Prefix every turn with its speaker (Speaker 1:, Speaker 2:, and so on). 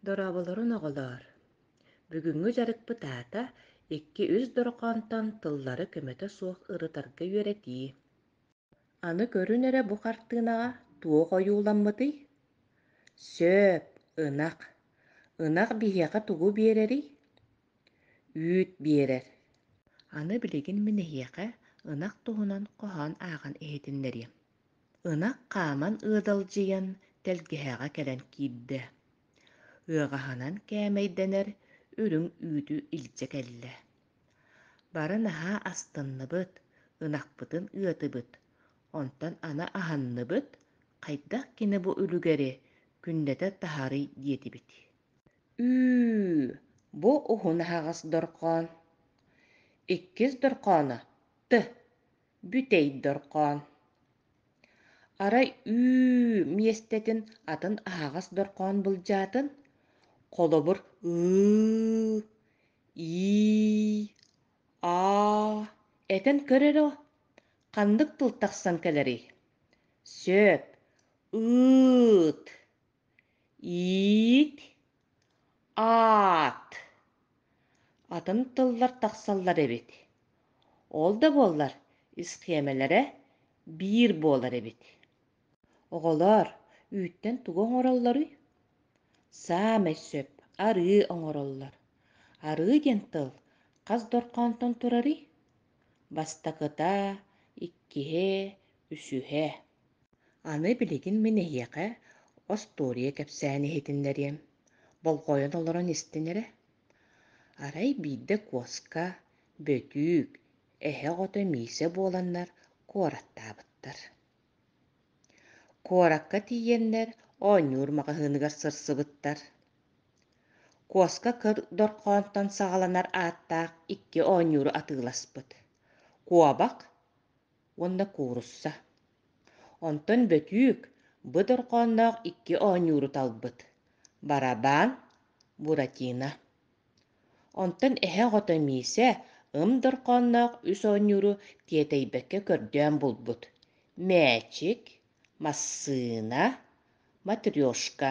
Speaker 1: Дорооболорун оҕолоор! Бүгүҥҥү дьарыкпыт аата икки-үс дорҕоонтон тыллары көмөтө суох ырытарга үөрэтии. Аны көрүн эрэ бу хартыынаҕа туох ойууламмытый? Сөп, ынах. Ынах биһиэхэ тугу биэрэрий? Үүт биэрэр. Аны билигин мин эһиэхэ ынах туһунан хоһоон ааҕан иһитиннэриэм. Ынах хааман ыадалдьыйан тэлгэһэҕэ кэлэн киирдэ, ыаҕаһынан кээмэйдэнэр үрүҥ үүтү илдьэ кэллэ. Бары наһаа астынныбыт, ынахпытын ыатыбыт, онтон аны аһынныбыт, хайдах кини бу үлүгэри күннэтэ таһарый диэтибит. «Үүү, бу уһун аһаҕас дорҕоон!» «Иккис дорҕооно, тө!» бүтэй дорҕоон арай үүү миэстэтин атын аһаҕас дорҕоон былдьаатын холобур ыы ии аа этэн көр эрэ ханнык тыл тахсан кэлэрий сөп ыыт иит аат атын тыллар тахсаллар эбит ол да буоллар исхиэмэлэрэ биир буолар эбит оҕолор үүттэн тугу оҥороллоруй саамай сөп арыы оҥороллор арыы диэн тыл хас дорҕоонтон турарый Бастакыта, иккиһэ, үсүһэ. Аны билигин мин эһиэхэ остуоруйа кэпсээн иһитиннэриэм. Болҕойон олорон истин эрэ. Арай биирдэ Куоска, Бөтүүк, эһэ оҕото Миисэ буоланнар куораттаабыттар. Куоракка тиийэннэр оонньуур маҕаһыыныгар сырсыбыттар. Куоска кыр дорҕоонтон саҕаланар ааттаах икки оонньууру атыыласпыт – куобах уонна куурусса. Онтон бөтүүк, бы дорҕоонноох икки оонньууру талбыт – барабаан, буратино. Онтон эһэ оҕото Миисэ ым дорҕоонноох үс оонньууру тиэтэйбэккэ көрдөөн булбут: мээчик, массыына, матрешка